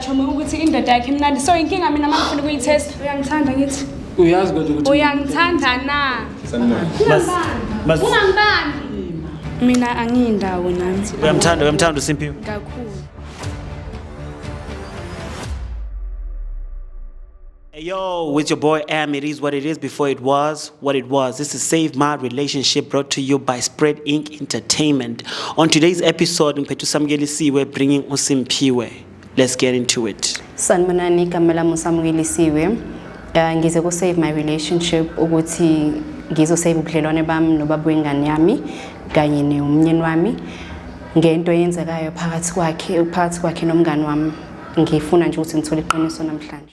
Chomi ukuthi indoda yakhe imnandi so inkinga mina uma ngifuna ukuyithesta uyangithanda ngithi uyazi kodwa ukuthi uyangithanda na ungangibambi mina angiyindawo nami uyamthanda uyamthanda usimpiwe kakhulu Hey yo, with your boy Am, it is what it is before it was what it was. This is Save My Relationship brought to you by Spread Inc. Entertainment. On today's episode, Mpetu Samgelisiwe bringing Usimpiwe. Let's get into it. Sanibonani Kamela Musamgelisiwe. Uh, ngize ku Save My Relationship ukuthi ngizosave ubudlelwane bami nobaba wengane yami kanye nomnyeni wami ngento eyenzekayo phakathi kwakhe phakathi kwakhe nomngani wami ngifuna nje ukuthi ngithole iqiniso namhlanje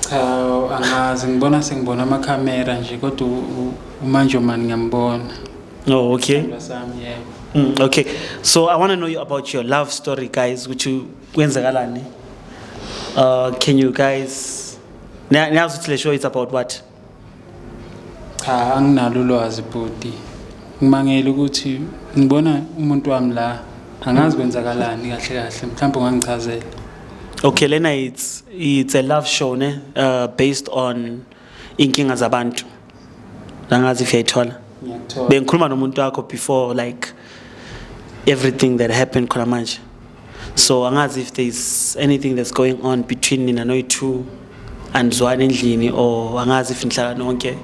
Cha angazi ngibona sengibona amakhamera nje kodwa uManjomani ngiyambona. Oh okay. Ngasami yebo. Mm, okay. So I want to know you about your love story guys ukuthi kwenzakalani. Uh can you guys Niyazi ukuthi le show it's about what? Cha anginalo ulwazi bhuti. Ngimangele ukuthi ngibona umuntu wami la angazi kwenzakalani kahle kahle mhlawumbe ungangichazela. Okay lena it's it's a love show ne uh, based on inkinga zabantu. Angazi if yayithola. Ngiyakuthola. Bengikhuluma nomuntu wakho before like everything that happened khona manje. so angazi if there is anything that's going on between nina noyi-two andizwani endlini or angazi if nihlala nonke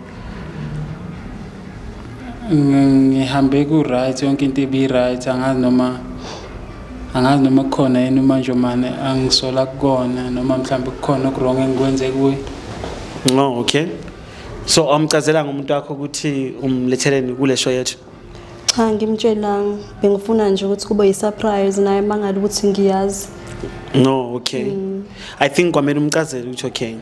ngihambe ku-right yonke into ibi-right angazi noma angazi noma kukhona yini manje mane angisola kukona noma mhlawumbe kukhona okurong engikwenze kuye no okay so amchazelanga umuntu wakho ukuthi umletheleni kule show yethu Cha ngimtshelanga bengifuna nje ukuthi kube yisurprise naye mangale ukuthi ngiyazi. No, okay. Mm. I think kwamele umcazele ukuthi okay.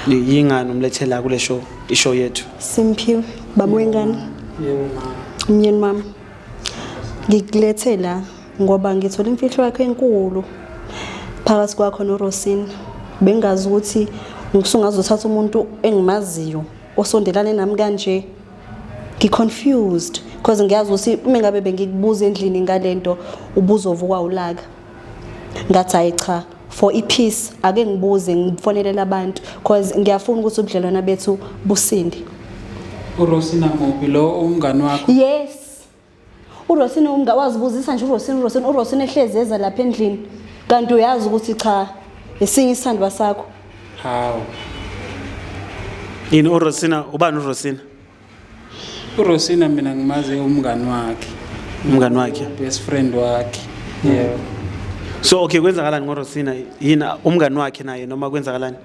Yingani umlethela kule show, ishow yethu. Simphiwe, baba wengane. Yebo mama. Umyeni mama. Ngikulethe la ngoba ngithola imfihlo yakhe enkulu phakathi kwakho noRosina. Bengazi ukuthi ngisungazothatha umuntu engimaziyo osondelane nami kanje. ngi confused because ngiyazi ukuthi uma ngabe bengikubuza endlini ngalento ubuzovukwa ulaka ngathi hayi cha for ipeace ake ngibuze ngifonelela abantu because ngiyafuna ukuthi ubudlelwana bethu businde uRosina Mobi lo umngani wakho yes urosini umnga wazibuzisa nje urosini urosini urosini ehlezi eza lapha endlini kanti uyazi ukuthi cha esinye isithandwa sakho hawu yini urosina ubani urosina urosina mina ngimazi umngani wakhe umngani wakhe best friend wakhe hmm. yeah so okay kwenzakalani ngorosina yini umngani wakhe naye noma kwenzakalani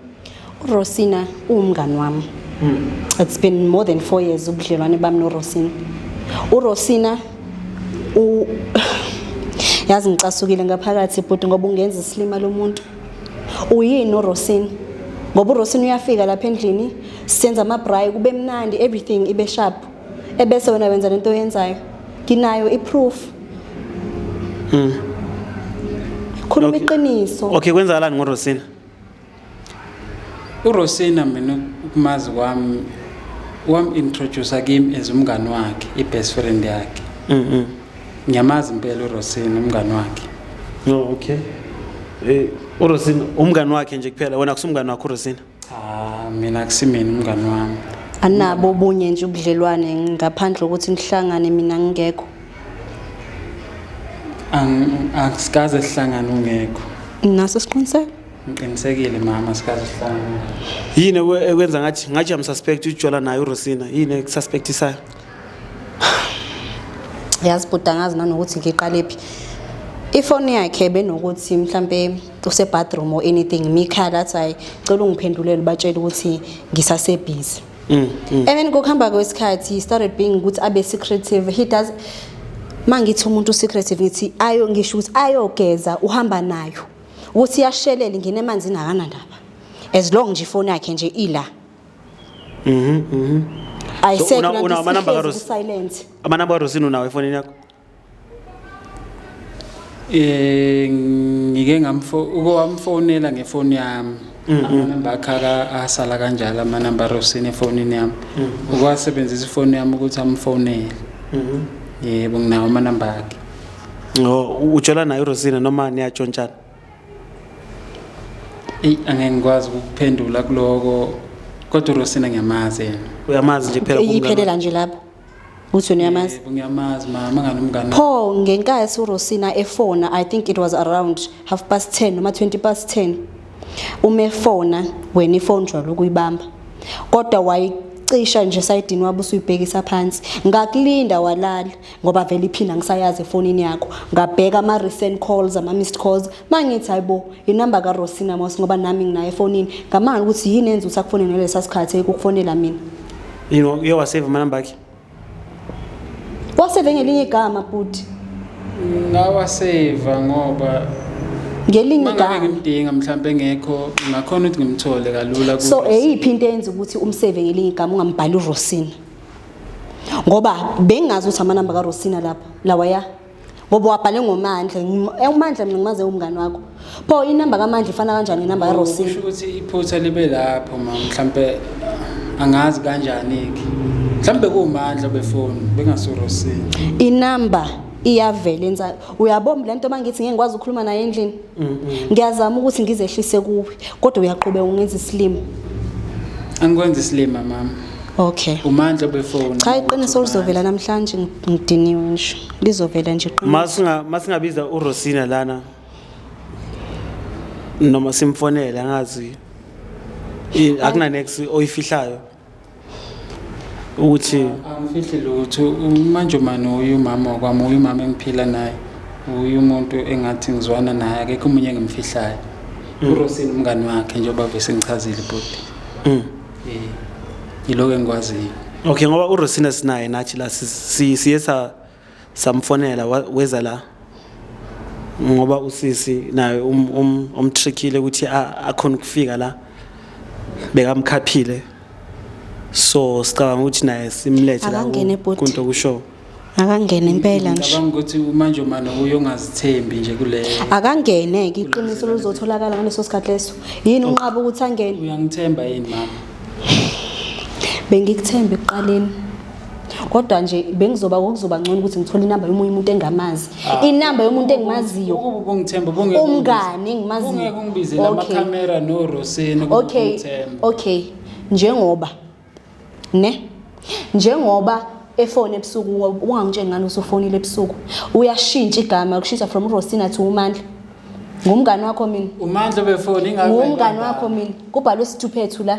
URosina uwumngani wami. Hmm. It's been more than 4 years ubudlelwane bami noRosina. URosina u yazi ngicasukile ngaphakathi bhuti ngoba ungenza isilima lomuntu. Uyini uRosina? Ngoba uRosina uyafika lapha endlini senza ama braai kube mnandi everything ibe sharp. Ebese wena wenza lento oyenzayo. Nginayo iproof. Hmm. Khuluma iqiniso. Okay kwenzakalani ngoRosina? urosina mina ukumazi kwami wam-introducer kimi as umngani wakhe i-best friend yakhe mm-hmm. ngiyamazi impela urosina umngani wakhe no okay eh, urosina umngani wakhe nje kuphela wena kusumngani wakho urosina cha mina akusimina umngani wami anabo obunye nje ubudlelwane ngaphandle kokuthi nihlangane mina ngingekho angsikaze sihlangane ungekho naso siqiniseko Ngiqinisekile mama sikaze sihlangane. Yini ekwenza ngathi ngathi am suspect uJola naye uRosina. Yini ekususpectisayo? Yazi bhuti angazi nanokuthi ngiqale phi. Ifoni yakhe benokuthi mhlambe use bathroom or anything mikhala that's why cela ungiphendulele batshele ukuthi ngisase busy. Mm, mm. And then ngokuhamba kwesikhathi he started being ukuthi abe secretive. He does mangithi umuntu secretive ngithi ayo ngisho ukuthi ayogeza uhamba nayo. ukuthi yashelela ingene emanzini akanandaba as long nje ifoni yakhe nje ila mhm mhm ayisekho so, una amanamba ka Rosina silent amanamba ka Rosina unawo efonini yakho eh ngike ngamfo uko wamfonela ngefoni yami mm-hmm. amanamba akhala asala kanjalo amanamba Rosina efonini yami mm-hmm. ukwasebenzisa ifoni yami ukuthi amfonele mhm yebo nginawo amanamba akhe ujola naye urosina noma niyatshontshana eyi angeke ngikwazi ukuphendula kuloko kodwa urosina ngiyamazi yena uyamazi nje phela iyiphelela nje lapho uthi uyamazi ngiyamazi mama ngani umngane pho ngenkathi urosina efona i think it was around half past 10 noma 20 past 10 uma efona wena ifone jwalo ukuyibamba kodwa wayi cisha nje sayidini wabe usuyibhekisa phansi ngakulinda walala ngoba vele iphini angisayazi efonini yakho ngabheka ama-recent calls ama-missed calls ma ngithi hayi bo inumber karosina mos ngoba nami nginayo efonini ngamanga ukuthi yini enza ukuthi akufone nelesa sikhathi ekukufonela mina yini uye waseva amanumber akhe waseve ngelinye igama bhuti ngawaseva ngoba ngelinye igama ngimdinga mhlawumbe engekho ngakhona ukuthi ngimthole kalula so eyiphi into eyenza ukuthi umseve ngelinye igama ungambhali urosina ngoba bengazi ukuthi amanamba karosina lapha lawaya ngoba wabhale ngomandla eh, umandla mina ngimaze umngane wakho pho inamba kamandla ifana kanjani inamba karosina usho ukuthi iphutha libe lapho ma mhlampe angazi kanjani-ke mhlawumbe kuwumandla befoni bengasorosini inamba iyavela ensa uyabomba le nto uma ngithi ngeke ngikwazi ukukhuluma naye endlini ngiyazama ukuthi ngizehlise kuwe kodwa uyaqhubeka ungenza isilima angikwenza isilima mama okay umandla befone cha iqiniso lizovela namhlanje ngidiniwe nje lizovela nje masinga masingabiza urosina lana noma simfonele angazi akuna next oyifihlayo ukuthi angifihli lutho umanjomane uye umama wakwami uye umama engiphila naye uye umuntu engathi ngizwana naye akekho omunye engimfihlayo mm. urosini umngani wakhe njengoba vese ngichazile bhuti um mm. eh, yiloko engikwaziyo okay ngoba urosina sinaye nathi la siye sa samfonela weza la ngoba usisi naye um, um, umtrickile ukuthi akhona ukufika la bekamkhaphile so sicabanga ukuthi naye simlethe la kunto kushow akangene impela nje ngicabanga ukuthi manje umane uyongazithembi nje kuleyo akangene ke iqiniso luzotholakala ngaleso sikhathi leso yini oh. unqaba ukuthi angene uyangithemba yini mama bengikuthembe ekuqaleni kodwa nje bengizoba kokuzoba ngcono ukuthi ngithole inamba yomunye umuntu engamazi ah. inamba yomuntu engimaziyo umngane engimaziyo okay okay njengoba ne njengoba efone ebusuku ungangitsheni ngani usufonile ebusuku uyashintsha igama kushintsha from urosina to umandla ngumngane wakho mina umandla befone ingangumngane wakho mina kubhalwe isithuphethu la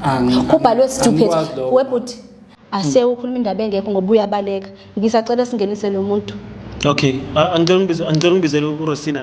Angi- kubhalwe angi- stupid angikwazi lokho. webhuti ase ukhuluma indaba engekho ngoba uyabaleka ngisacela singenise lo muntu okay a- angicela ungibize- angicela ungibizele urosina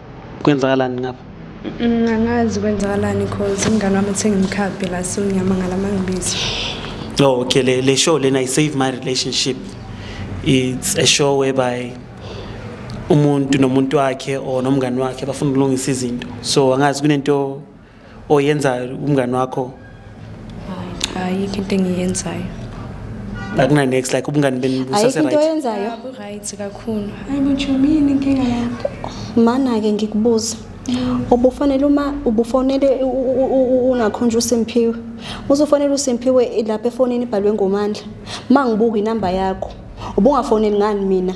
kwenzakalani ngapha Mm, angazi kwenzakalani cause umngane wami uthe ngimkhaphe la so ngiyamangala uma ngibiza oh okay le, le show lena i save my relationship it's a show whereby umuntu nomuntu wakhe or nomngani wakhe bafuna ukulungisa izinto so angazi kunento oyenzayo umngani wakho ayikho into engiyenzayo akuna next like ubungani benu busase right ayikho into oyenzayo abu right kakhulu hayi bujumini inkinga yakho mana ke ngikubuza ubufanele uma ubufonele ungakhonjwa uSimphiwe uzofonela uSimphiwe lapha efonini ibhalwe ngomandla mangibuka inamba yakho ubungafoneli ngani mina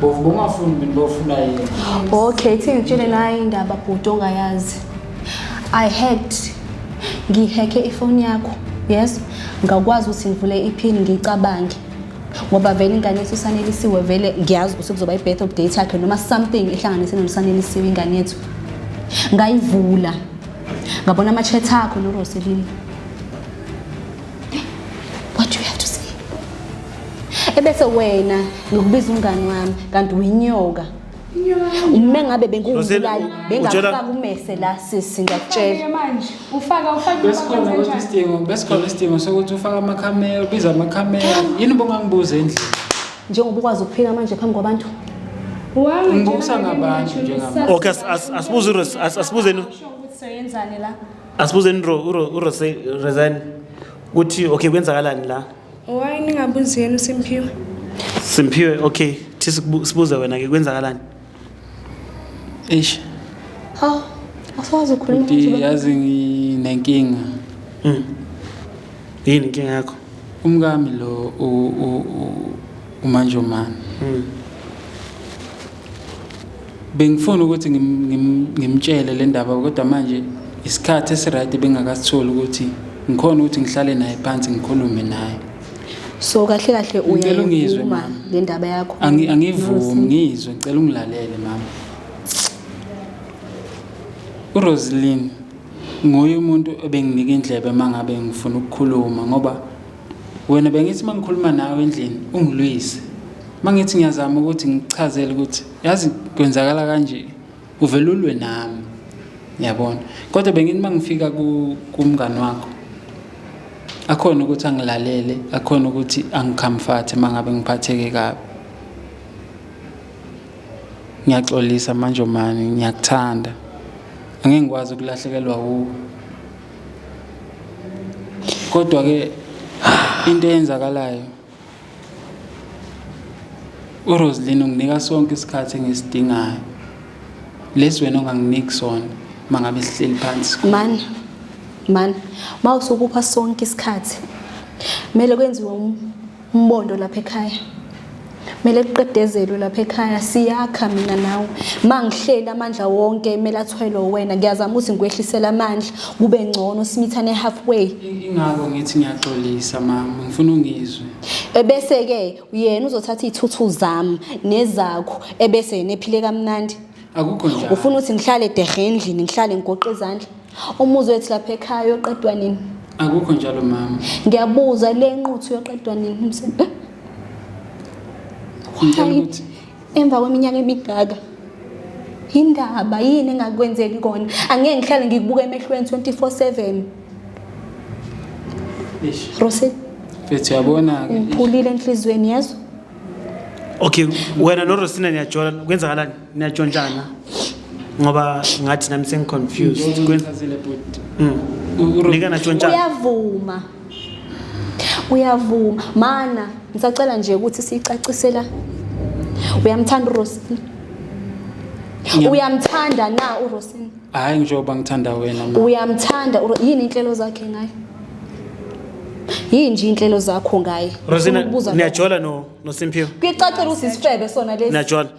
bovu bomafuni mina bofuna yini okay thi ngitshele naye indaba bhuti ongayazi i had ngiheke ifoni yakho yes ngakwazi ukuthi ngivule iphini ngicabange ngoba vele ingane yethu usanelisiwe vele ngiyazi ukuthi kuzoba i-birth of date yakhe noma something ehlanganise nomsanelisiwe ingane yethu ngayivula ngabona ama-chat akho noroselile What do you have to say? Ebese wena ngokubiza umngani wami kanti uyinyoka. Uma ngabe benguwubulali bengafaka umese la sisi ngiyakutshela. Manje ufaka ufaka besikhona ukuthi isidingo besikhona isidingo sokuthi ufaka amakhamera ubiza amakhamera yini bongangibuze endlini. Njengoba ukwazi ukuphika manje phambi kwabantu. Ngibusa ngabantu njengamanje. Okay asibuze asibuzeni. Soyenzani la? asibuzeni uresign ukuthi okay kwenzakalani la why ningabuzi yena usimphiwe simphiwe okay thi sibuze wena ke kwenzakalani eish ha asazi ukhuluma ukuthi yazi nginenkinga mm yini inkinga yakho umkami lo umanjomani mm Bengifuna ukuthi ngimtshele le ndaba kodwa manje isikhathi esirayidi bengakasitholi ukuthi ngikhona ukuthi ngihlale naye phansi ngikhulume naye so kahle kahle uyacela ungizwe mama le ndaba yakho angivumi ngizwe ngicela ungilalele mama uRoseline nguye umuntu obenginika indlebe mangabe ngifuna ukukhuluma ngoba Wena bengithi uma ngikhuluma nawe endlini ungilwise. Uma ngithi ngiyazama ukuthi ngikuchazele ukuthi yazi kwenzakala kanje uvele ulwe nami. Yabona. Kodwa bengithi uma ngifika kumngani wakho akhona ukuthi angilalele akhona ukuthi angikhamfathe uma ngabe ngiphatheke kabi ngiyaxolisa manje mani ngiyakuthanda angeke ngikwazi ukulahlekelwa wuwe kodwa ke into eyenzakalayo uRoseline unginika sonke isikhathi engisidingayo lesi wena onganginiki sona mangabe sihleli phansi man man mawusukupha sonke isikhathi kumele kwenziwe um umbondo lapha ekhaya mele kuqedezelwe lapha ekhaya siyakha mina nawe ma ngihleli amandla wonke mele athwelwe wena ngiyazama ukuthi ngikwehlisele amandla kube ngcono simithane halfway ingako ngithi ngiyaxolisa mama ngifuna ungizwe ebese-ke yena uzothatha iy'thuthu zami nezakho ebese yena ephile kamnandi akukho njalo ufuna ukuthi ngihlale dehe endlini ngihlale ngigoqe izandla Umuzi wethu lapha ekhaya uyoqedwa nini? Akukho njalo mama. Ngiyabuza le nquthu uyoqedwa nini umsebenzi? Ngicela Hayi, ukuthi emva kweminyaka emigaka yindaba yini engakwenzeki kona angeke ngihlale ngikubuka emehlweni 24/7 eish. Rose Mfethu uyabona ke. ngiphulile enhlizweni yazo Okay, wena noRosina niyajola kwenzakalani? niyatshontshana ngoba ngathi nami sengiconfused Kwen- Ngizazile bhuti. Mm. Uro- nika natshontshana uyavuma uyavuma mana ngisacela nje ukuthi siyicacisela uyamthanda urosini Ngiyam- uyamthanda na urosini Hayi njengoba ngithanda wena ma. uyamthanda uRo- yini inhlelo zakhe ngaye yini nje inhlelo zakho ngaye rosina Ufuna ukubuza lokho. niyajola no- nosimphiwe kuyicacela ukuthi isifebe sona lesi niyajola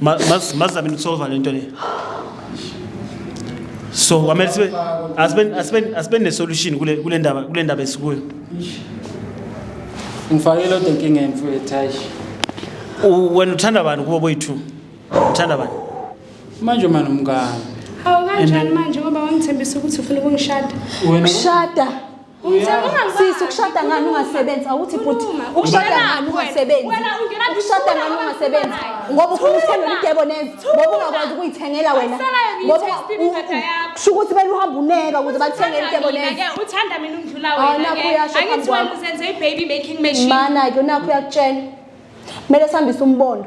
Ma- mas- mazame ukusolva lento le so kwamele sibe asibe- asibe- asibe nesolution kule kule ndaba kule ndaba esikuyo ngifake lodwa inkinga emfowethu hayi U- wena uthanda bani kubo boyi-two uthanda bani manje uma nomngane hawu kanjani manje ngoba wangithembisa ukuthi ufuna ukungishada wena Shada. Sisi ukushada ngani ungasebenzi awuthi bhuti ukushada ngani ungasebenzi ukushada ngani ungasebenzi ngoba ufuna ukuthenga idebo neze ngoba ungakwazi ukuyithengela wena ngoba kusho ukuthi bela uhamba uneka ukuze bakuthengele idebo neze uthanda mina undlula wena angithi wena uzenze i-baby making machine mana-ke unakho uyakutshela kumele sihambise umbondo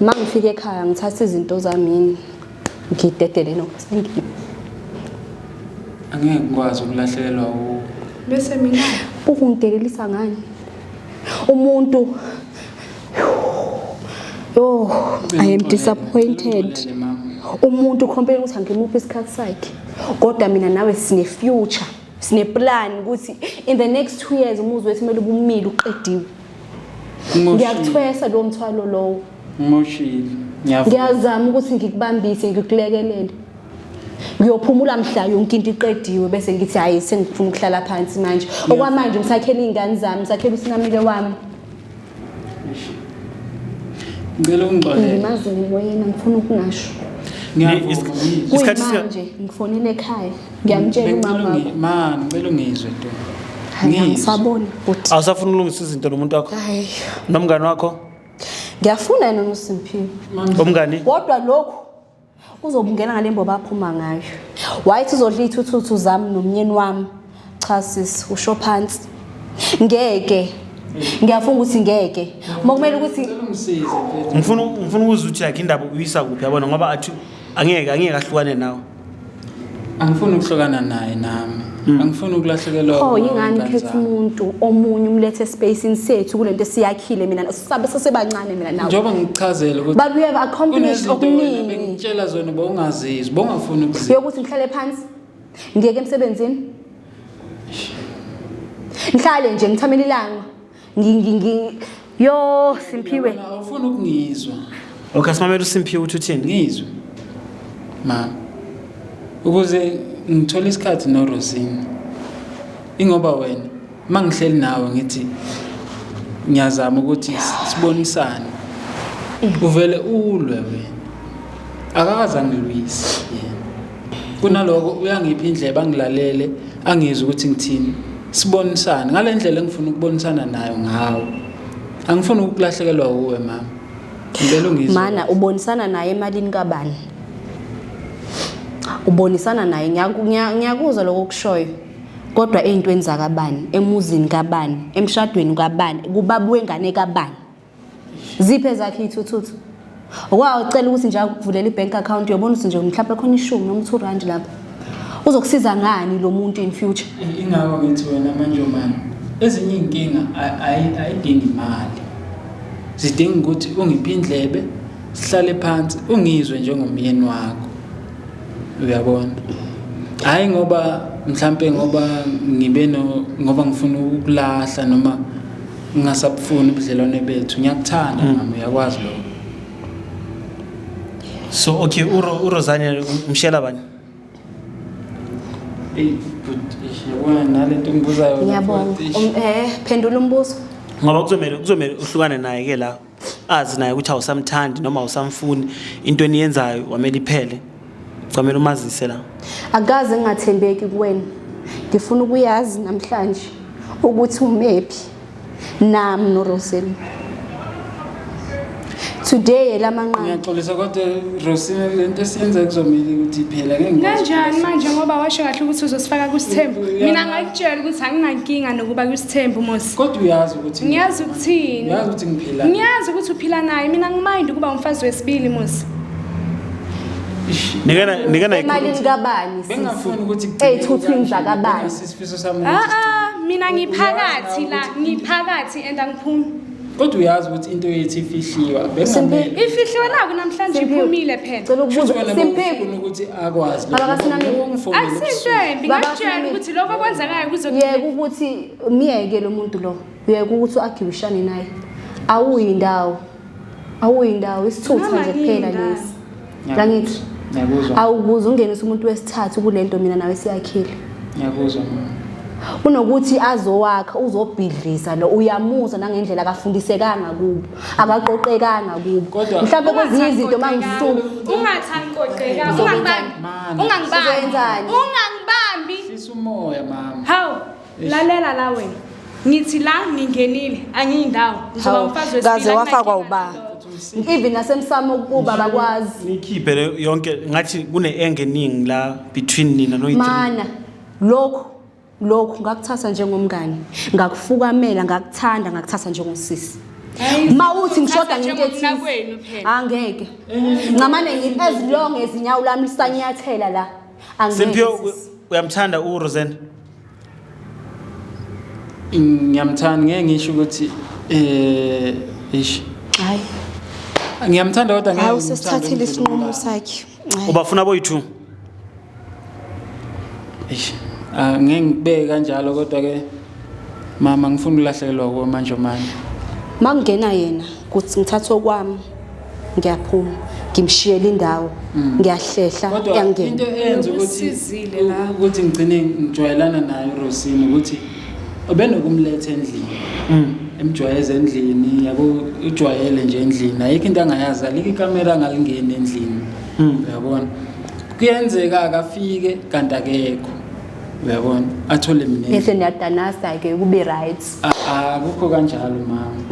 uma ngifika ekhaya ngithatha izinto zamini ngidedele nokuthi angeke ngikwazi ukulahlekelwa u bese mina ukungidelelisa ngani umuntu yo i am disappointed umuntu ukhompela ukuthi angimuphi isikhathi sakhe kodwa mina nawe sine future sineplan ukuthi in the next two years umuzi wethu kumele ubumile uqediwe ngiyakuthwesa lowo mthwalo lowo ngimoshile ngiyazama ukuthi ngikubambise ngikulekelele ngiyophumula mhla yonke into iqediwe bese ngithi hhayi sengifuna ukuhlala phansi manje okwamanje ngisakhela iy'ngane zami ngisakhela usinamile wami ngicela ungixolelemazi ngimoyena ngifuna ukungasho isikhathi manje ngifonele ekhaya ngiyamtshela umama wakho ma ngicela ungizwe nto ngisabona ukuthi awusafuna ukulungisa izinto nomuntu wakho hayi nomngani wakho ngiyafuna yena uSimphiwe umngani kodwa lokhu uzobungena ngale mboba aphuma ngayo wayithi uzodla ithuthu zami nomnyeni wami cha sis usho phansi ngeke ngiyafunga ukuthi ngeke mokumele ukuthi ngifuna ngifuna ukuzuthi yakhe indaba uyisa kuphi yabona ngoba athi angeke angeke ahlukane nawe angifuni ukuhlukana naye nami hmm. angifuni ukulahlekelwa oh yingani khetha umuntu omunye umlethe espacini sethu kulento esiyakhile mina sabe sesebancane mina nawe njengoba ngichazele ukuthi but we have accomplished okuningi ngitshela zona bowungazizwa bowungafuni ukuzizwa yokuthi ngihlale phansi ngiyeke emsebenzini ngihlale nje ngithamela ilanga yo simphiwe awufuni ukungizwa okay simamela usimphiwe uthi uthini ngizwe ma ukuze ngithole isikhathi norosini ingoba wena uma ngihleli nawe ngithi ngiyazama ukuthi sibonisane uvele ulwe wena akakaze angilwise yena kunaloko uyangipha indlebe angilalele angizwe ukuthi ngithini sibonisane ngale ndlela engifuna ukubonisana nayo ngawo angifuni ukulahlekelwa uwe mama ngicela ungizwe mana ubonisana naye emalini kabani ubonisana naye ngiyakuzwa lokho kushoyo kodwa ey'ntweni zakabani emuzini kabani emshadweni kabani kubaba wengane kabani ziphe zakhe iy'thuthuthu wa ucela ukuthi nje akuvulela i-bank account uyobona ukuthi nje mhlawumbe khona ishumi noma two rand lapho uzokusiza ngani lo muntu in future ingako ngithi wena manjomane ezinye iy'nkinga ayidingi imali zidinga ukuthi ungiphi indlebe sihlale phansi ungizwe njengomyeni wakho uyabona hhayi ngoba mhlampe ngoba ngibe no ngoba ngifuna ukulahla noma ngingasabufuni ubudlelwane bethu ngiyakuthanda mm. mama uyakwazi lo so okay uro urosane umshela bani eyi but yabona nale nto ngibuzayo ngiyabonga um, eh phendula umbuzo ngoba kuzomele kuzomele uhlukane naye ke la azi naye ukuthi awusamthandi noma awusamfuni into eniyenzayo wamele iphele kwamele umazise la akaze ngingathembeki kuwena ngifuna ukuyazi namhlanje ukuthi umephi nami noroseli today lamanqamu ngiyaxolisa kodwa rosina le nto esiyenza kuzomele ukuthi iphela kanjani manje ngoba washo kahle ukuthi uzosifaka kusithembu mina ngakutshela ukuthi anginankinga nokuba kusithembu mos kodwa uyazi ukuthi ngiyazi ukuthini uyazi ukuthi ngiphila ngiyazi ukuthi uphila naye mina ngimayindi ukuba umfazi wesibili muzi nikena nikena emalini kabani bengafuni ukuthi eyithuthu indla kabani sisifiso sami a a mina ngiphakathi la ngiphakathi and angiphumi kodwa uyazi ukuthi into yethu ifihliwa bengamele ifihliwe la kunamhlanje iphumile phela cela ukubuza simpheke ukuthi akwazi lokho akusinto embi ngakutshela ukuthi lokho kwenzekayo kuzokuye ukuthi myeke lo muntu lo uyeke ukuthi u-agibishane naye awuyindawo awuyindawo isithutha nje kuphela lesi ngangithi awukuze ungenise umuntu wesithathu kule nto mina nawe siyakhile ngiyakuzwa kunokuthi azowakha uzobhidlisa lo uyamuzwa nangendlela akafundisekanga kubo akaqoqekanga kubo mhlawumbe kwezinye izinto uma ngisuku ungathani qoqeka ungangibambi ungangibambi ungangibambi sisumoya mama hawu lalela la wena ngithi la ngingenile angiyindawo ngizoba Hawu, umfazi wesibili, kaze anginakinga wafakwa nalokho. uba even nasemsamo ukuba bakwazi nikhiphe le- yonke ngathi kune-enge eningi la between nina noyi mana lokhu lokhu ngakuthatha njengomngane ngakufukamela ngakuthanda ngakuthatha njengosisi Hayi, ma uthi ngishoda uthatha ngento ethize njengomnakwenu phela. angeke ngamane ngi- as long as inyawo lami lisanyathela la angeke semphiwe sisi. uyamthanda urosena ngiyamthanda ngeke ngisho ukuthi eh ish hayi ngiyamthanda kodwa ngeke hayi usesithathile isinqumo sakhe ubafuna boyithu ish ah, ngeke ngibeke kanjalo kodwa ke mama ngifuna ukulahlekelwa kuwe manje manje makungena yena kuthi ngithathe okwami ngiyaphuma ngimshiyela indawo mm. ngiyahlehla yangena into eyenza ukuthi ukuthi ngigcine ngijwayelana naye uRosini ukuthi obenokumletha endlini mm. emjwayeza endlini yabo ujwayele nje endlini ayikho into angayazi alike ikamera angalingeni endlini mm. uyabona kuyenzeka akafike kanti akekho uyabona athole mina bese niyadanasa ke kube right akukho kanjalo mama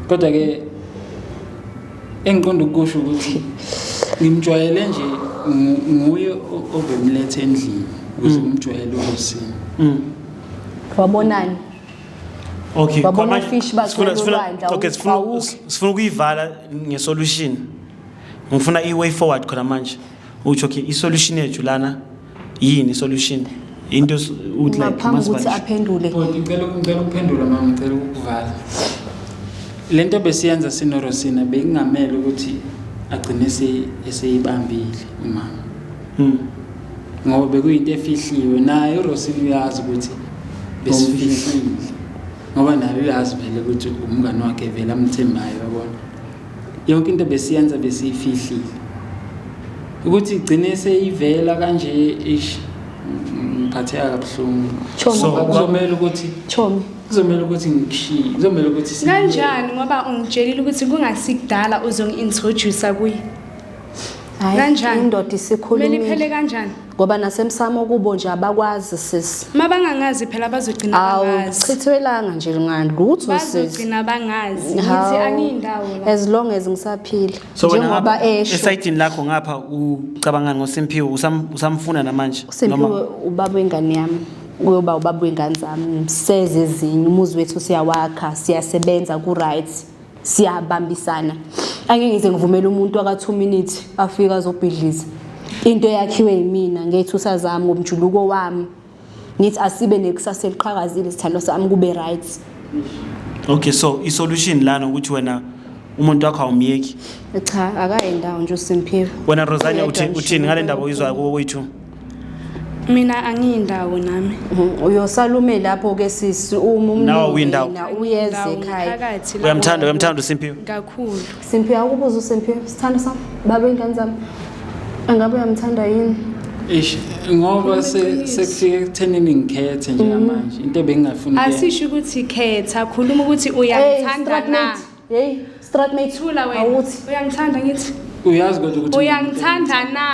kodwa ke engiqonda ukusho ukuthi ngimjwayele nje nguye obemlethe endlini ukuze mm. umjwayele ukusini mm. wabonani okay babona fish bakhona olwandla okay sifuna sifuna ukuyivala ngesolution ngifuna i way forward khona manje uthi okay isolution yethu lana yini solution into s- ukuthi like ngaphambi kokuthi masibalishe. aphendule Bhuti, ngicela ngicela ukuphendula mama ngicela ukukuvala le nto besiyenza sinorosina bekungamele ukuthi agcine ese- eseyibambile umama Mm. ngoba bekuyinto efihliwe naye urosina uyazi ukuthi besifihlile ngoba naye uyazi vele ukuthi umngane wakhe vele amthembayo yabona yonke into besiyenza besiyifihlile ukuthi igcine seyivela kanje ish ngiphatheka kabuhlungu so kuzomela ukuthi chomi kuzomela ukuthi ngikushiye kuzomela ukuthi kanjani ngoba ungitshelile ukuthi kungasikudala uzongi-introducer kuye kanjani indoda isikhulumile kumele iphele kanjani ngoba nasemsamo kubo nje abakwazi sisi mabangangazi phela bazogcina bangazi chithwelanga nje ngani lutho sisi bazogcina bangazi ngithi angiyindawo la as long as ngisaphila njengoba esho esayidini lakho ngapha ucabanga ngoSimphiwe usamfuna namanje uSimphiwe ubaba wengane yami uyoba ubaba wengane zami seze ezinye umuzi wethu siyawakha siyasebenza ku-right siyabambisana angeke ngize ngivumele umuntu aka 2 minutes afika azobhidliza into eyakhiwe yimina ngethusa zami ngomjuluko wami ngithi asibe nekusasa eliqhakazile sithando sami kube right okay so i solution lana ukuthi wena umuntu wakho awumyeki cha akayi ndawo nje uSimphiwe wena Rosania uthini ngale ndaba uyizwayo kubo kwethu Mina angiyindawo nami. Mhm, Uyosala ume lapho ke sisi uma Nawe uyindawo. umnina uyeze Ndawo ekhaya. phakathi lapho. Uyamthanda, uyamthanda uSimphiwe. Kakhulu. Simphiwe akubuza uSimphiwe sithando sami baba ingane zami. Angabe uyamthanda yini? Eish, ngoba se- sekufike ekuthenini ngikhethe njengamanje into ebengingafuni kuyenza. Asisho ukuthi khetha, khuluma ukuthi Hey, uyangithanda strat na. mate. Hey, strat mate. Thula wena. Awuthi. Uyangithanda ngithi. uyazi kodwa ukuthi Uyangithanda na.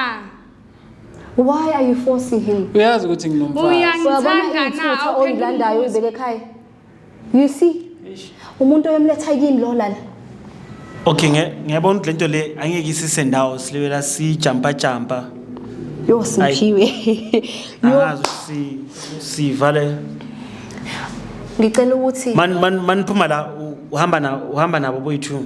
why are you forcing him uyazi ukuthi nginomfazi uyangithanda na awulandayo uyibeke ekhaya you see umuntu oyomletha yini lo lana okay ngiyabona ukuthi lento le angeke isise ndawo silibela sijampa jampa yo simphiwe angazi ukuthi sivale ngicela ukuthi man man maniphuma la uhamba na uhamba nabo boyithu